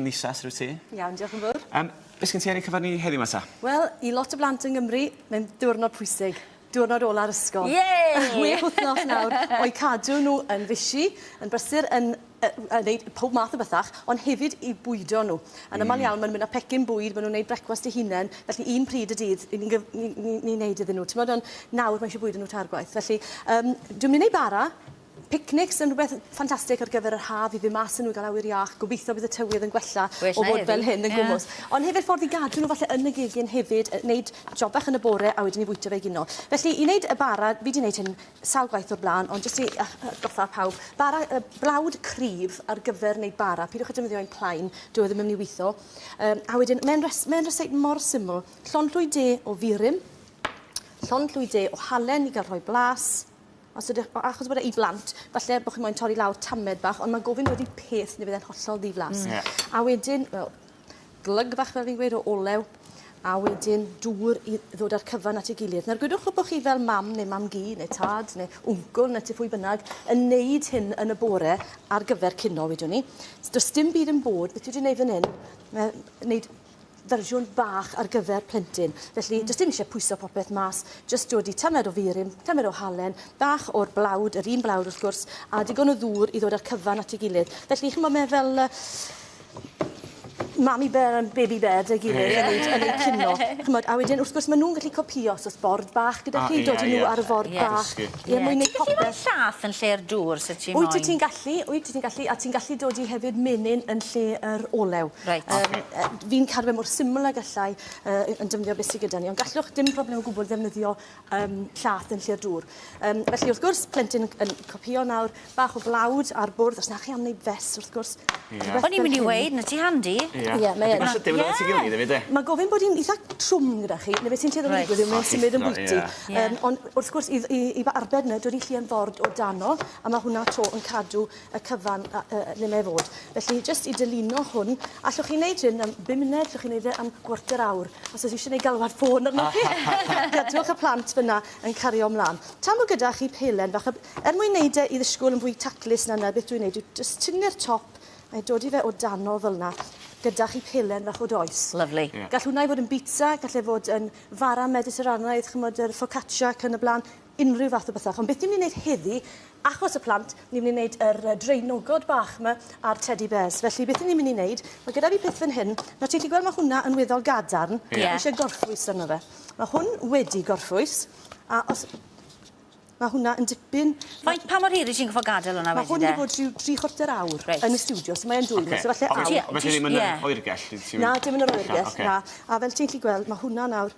Nisha, sut wyt ti? Iawn, diolch yn fawr. Um, beth sgyn ti ar ei cyfer ni heddiw mata? Wel, i lot o blant yng Nghymru, mae'n diwrnod pwysig. Diwrnod ola'r ysgol. Yay! Chwech wythnos nawr o'i cadw nhw yn fisi, yn brysur, yn uh, wneud pob math o bethach, ond hefyd i bwydo nhw. Yn mm. ymal iawn, maen nhw'n mynd â pecyn bwyd, maen nhw'n gwneud brecwast eu hunain, felly un pryd y dydd, ni'n ni, ni, ni, ni wneud iddyn nhw. Ti'n meddwl, nawr mae eisiau bwyd yn nhw targwaith. Felly, um, dwi'n mynd i wneud bara, Picnics yn rhywbeth ffantastig ar gyfer yr haf i fyn' mas a n'w i ga'l awyr iach. Gobeithio bydd y tywydd yn gwella o fod fel hyn yn gwmws. Ond hefyd ffordd i gadw n'w falle yn y gegin hefyd yy neud job bach yn y bore a wedyn 'ny fwyta fe egino. Felly i neud y bara, fi 'di neud hyn sawl gwaith o'r bla'n ond jyst i yy yy atgoffa pawb, bara yy blawd cryf ar gyfer neud bara, pidiwch â defnyddio un plain, dyw e ddim yn myn' i witho. Yym a wedyn ma'n res- ma'n reseit mor syml, llond llwy de o furum, llond llwy de o halen i ga'l rhoi blas, Os ydych, achos bod e i blant, falle bod chi moyn torri lawr tamed bach, ond mae gofyn wedi peth neu bydd e'n hollol ddiflas. Yeah. A wedyn, wel, glyg fach fel fi'n gweud o olew, a wedyn dŵr i ddod â'r cyfan at ei gilydd. Nawr, gwydwch bod chi fel mam neu mam gi neu tad neu wncl neu ti phwy bynnag yn neud hyn yn y bore ar gyfer cino, wedwn ni. Does dim byd yn bod, beth dwi wedi neud fan hyn, mae neud fersiwn bach ar gyfer plentyn. Felly, mm. jyst dim eisiau pwyso popeth mas, jyst dod i tamed o furym, tamed o halen, bach o'r blawd, yr un blawd wrth gwrs, a digon o ddŵr i ddod â'r cyfan at ei gilydd. Felly, chi'n bod me fel... Uh, mami bear and baby bear dy gilydd yeah. yn, ei, yn ei cino. Chymod, a wedyn, wrth gwrs, maen nhw'n gallu copio os oes bord bach gyda chi, dod i nhw ar y ford yeah. bach. Ie, ti'n gallu rhoi llath yn lle'r dŵr os wyt ti moyn. Wyt ti'n gallu, wyt ti'n gallu, a ti'n gallu dodi hefyd menyn yn lle yr olew. Reit. Yym yy fi'n cadw fe mor syml a gallai yy yn defnyddio beth sy gyda ni, ond gallwch dim problem o gwbwl ddefnyddio yym llath yn lle'r dŵr. Yym felly wrth gwrs, plentyn yn yn copïo nawr, Bach o flawd ar bwrdd os 'na chi am neud fest wrth gwrs. Ie. O'n i'n myn' i weud ma' ti handi. Ie. Ie mae yn. Ma'n sydyn at 'i gilydd efyd 'de? Ma'n gofyn bod 'i'n eitha trwm gyda chi ne' be' sy'n tueddu digwydd yw mae'n symud yn bwyty. Yym on' wrth gwrs i i i ba- arbed 'ny dod i Llŷ yn Ford o dano a ma' hwnna 'to yn cadw y cyfan a- yy le mae fod. Felly jyst i dylino hwn. Allwch chi neud hyn am bum munud allwch chi neud e am gwarter awr. Os o's isie neu' galwad ffôn arnoch chi. Gadwch y plant fyn 'na. yn cario mlaen. Tan bod gyda chi pelen fach, er mwyn wneud e i ddisgwyl yn fwy taclus na na beth dwi'n wneud, dwi'n just tynnu'r top a'i dod i fe o dano fel yna, gyda chi pelen fach o does. Lovely. Yeah. Gall hwnna i fod yn bizza, gall e fod yn fara mediterranaidd, chymod, yr focaccia ac yn y blaen, unrhyw fath o bethach. Ond beth ni'n mynd i wneud heddi, Achos y plant, ni'n mynd i wneud yr uh, draenogod bach yma a'r teddy bears. Felly, beth ni'n mynd i wneud, mae gyda fi peth fan hyn. Nawr, ti'n chi gweld mae hwnna yn weddol gadarn. Ie. Yeah. eisiau gorffwys arno fe. Mae hwn wedi gorffwys, a os Mae hwnna yn dipyn... Faint, pa mor hir i ti'n gyfo gadael hwnna wedyn de? Mae hwn wedi bod rhyw tri chwarter awr right. yn y studio, so mae'n dwy'n okay. so falle awr. Felly ddim yn yr oergell? Na, dim yn yr oergell, na. A fel ti'n chi gweld, mae hwnna nawr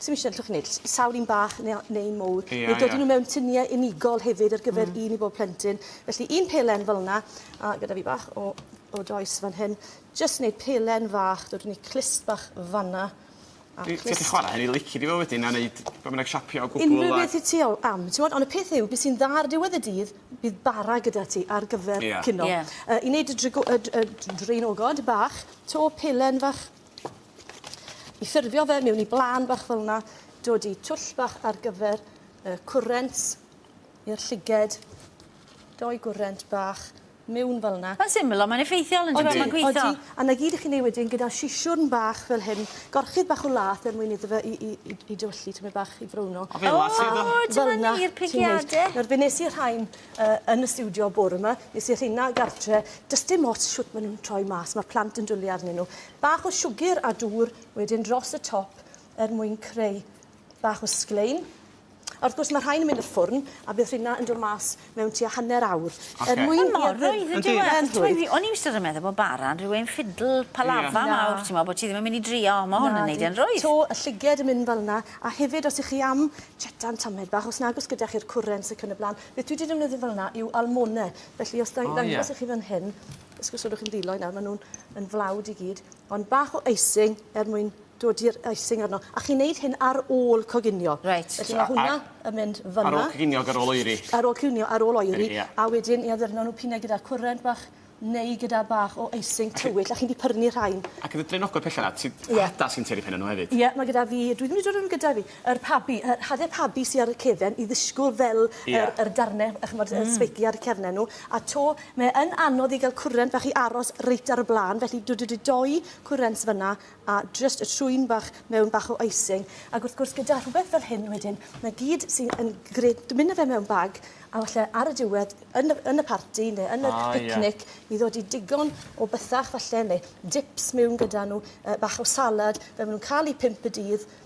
Sim isie, allwch chi wneud sawl un bach neu, neu un mowr. Ie, neu dod ie. nhw mewn tuniau unigol hefyd ar gyfer mm. un i bob plentyn. Felly un pelen fel yna, a gyda fi bach o, o does fan hyn. Just wneud pelen fach, dod wneud clust bach fanna. Ti wedi chwarae hynny lici di fo wedyn a wneud beth bynnag siapio o gwbl. Unrhyw beth i ti o am. Ti'n gwybod, ond y peth yw, beth sy'n dda ar diwedd y dydd, bydd bara gyda ti ar gyfer yeah. cino. Yeah. Uh, I wneud y, y, y, y draenogod bach, to pelen fach I ffurfio fe mewn i blân bach fel yna, dod i twll bach ar gyfer y cwrent i'r llyged, doi gwrent bach mewn fel yna. Mae'n syml ond mae'n effeithiol yndyw e, mae'n gweithio. Odi, odi, a 'na gyd i chi'n ei wedyn gyda sisiwrn bach fel hyn, gorchudd bach o lath er mwyn iddo fe i i i i dywyllu tymed bach i frowno. O fe lath sydd o. O dyma ni'r pigiade. Nawr fe nes i rhain uh, yn y studio bore yma. Nes i rhina gartre, does dim ots siwt maen nhw'n troi mas, mae plant yn dwlu arnyn nhw. Bach o siwgr a dŵr, wedyn dros y top er mwyn creu bach o sglein. A wrth gwrs mae rhain yn mynd i'r ffwrn a bydd rhina yn dod mas mewn tua hanner awr. Okay. Er mwyn i'r rhywun... E? O'n i wastad yn meddwl bod bara yn rhywun ffidl palafa yeah. mawr, ti'n meddwl bod ti ddim yn mynd i drio, mae hwn yn neud e'n rwydd. To y lliged yn mynd fel yna, A hefyd os ych chi am chetan tamed bach, os nag oes gyda chi'r cwrens ac yn y blaen, beth dwi 'di defnyddio fel yna yw almone. Felly os da- ddangos i chi fan hyn, os gosodwch chi'n ddiloi nawr, maen nhw'n yn flawd i gyd, ond bach o icing er mwyn dod i'r icing arno. A chi'n neud hyn ar ôl coginio. Reit. Felly mae hwnna yn mynd fanna. Ar ôl coginio ac ar ôl oeri. Ar ôl coginio, ar ôl oeri. Ie. A wedyn i addurno nhw p'un ai gyda cwrent bach neu gyda bach o icing tywyll a chi'n di pyrnu rhain. Ac yn y draenogod pella 'na ti Ie. hada sy'n tueddu penne nhw hefyd. Ie ma' gyda fi dwi ddim wedi dod â nhw gyda fi yr pabi yy hade pabi sy ar y cefen i ddisgwl fel Ie. yr yr darne yy ch'mod yy sbeiciau ar y cefne nhw a 'to mae yn anodd i ga'l cwrent fach i aros reit ar y bla'n felly dwi dwi 'di doi cwrents fyn 'na a jyst y trwyn bach mewn bach o icing ac wrth gwrs gyda rhywbeth fel hyn wedyn mae gyd sy'n yn gred mynd â fe mewn bag a falle ar y diwedd yn y yn y parti neu yn y ah, picnic yeah. i ddod i digon o bythach falle neu dips mewn gyda nhw uh, bach o salad fe maen nhw'n cael eu pimp y dydd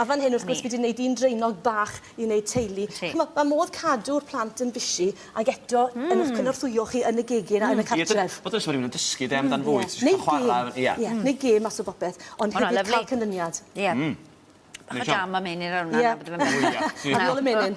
A fan hyn wrth gwrs fi 'di neud un draenog bach i neud teulu. Ch'mo' ma' modd cadw'r plant yn busy ag eto yn 'ych cynorthwyo chi yn y gegin a yn y cartref. Bod yn siŵr bo' rywun yn dysgu 'de amdan fwyd ti jyst chwara ar y... Ie. Ie neu gêm mas o bopeth ond hefyd ca'l canlyniad. Ie. Bach o jam a menyn rownd 'na a bod e fel 'ny. Ie. Ar ôl y menyn.